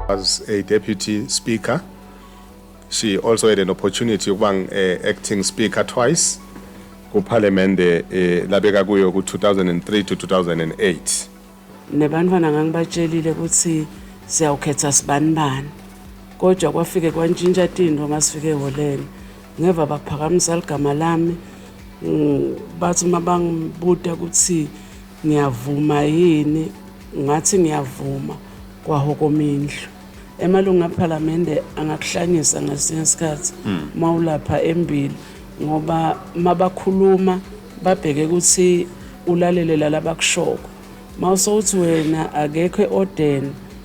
As a deputy speaker, she also had an opportunity yokuba eh, acting speaker twice kuphalemende eh, labeka kuyo ku-2003 to 2008 nebantwana ngangibatshelile ukuthi siyawukhetha sibanibani kodwa kwafike kwantshintsha tinto uma sifike eholeni Ngeva baphakamisa ligama lami mm, bathi uma bangibuta ukuthi ngiyavuma yini ngathi ngiyavuma kwahokoma indlu emalungu aphalamende angakuhlanyisa ngesinye isikhathi hmm. uma ulapha embili ngoba uma bakhuluma babheke ukuthi ulalele lalabakushoko uma usowuthi wena akekho eodeni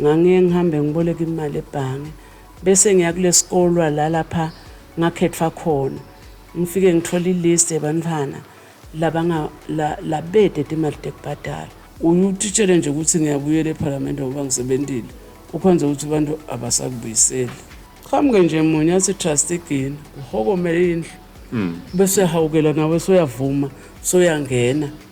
Ngangiye ngihambe ngiboleka imali ebhange bese ngiya kulesikolwa la lapha ngakhethwa khona ngifike ngithola ilist yabantwana labanga la, labede timali tekubhadala uyutitshele nje ukuthi ngiyabuyela ephalamende ngoba ngisebentile ukhonze ukuthi abantu abasakubuyiseli qhamuke nje munye athi trust igini uhokomele indlu hmm. bese hawukela nawe soyavuma soyangena so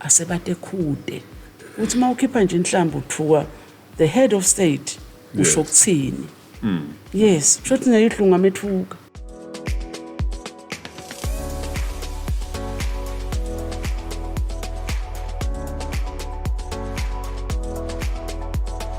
asebate khude uthi uma ukhipha nje inhlamba uthuka the head of state usho ukuthini hmm. yes kusho ukuthi nayo idlunga methuka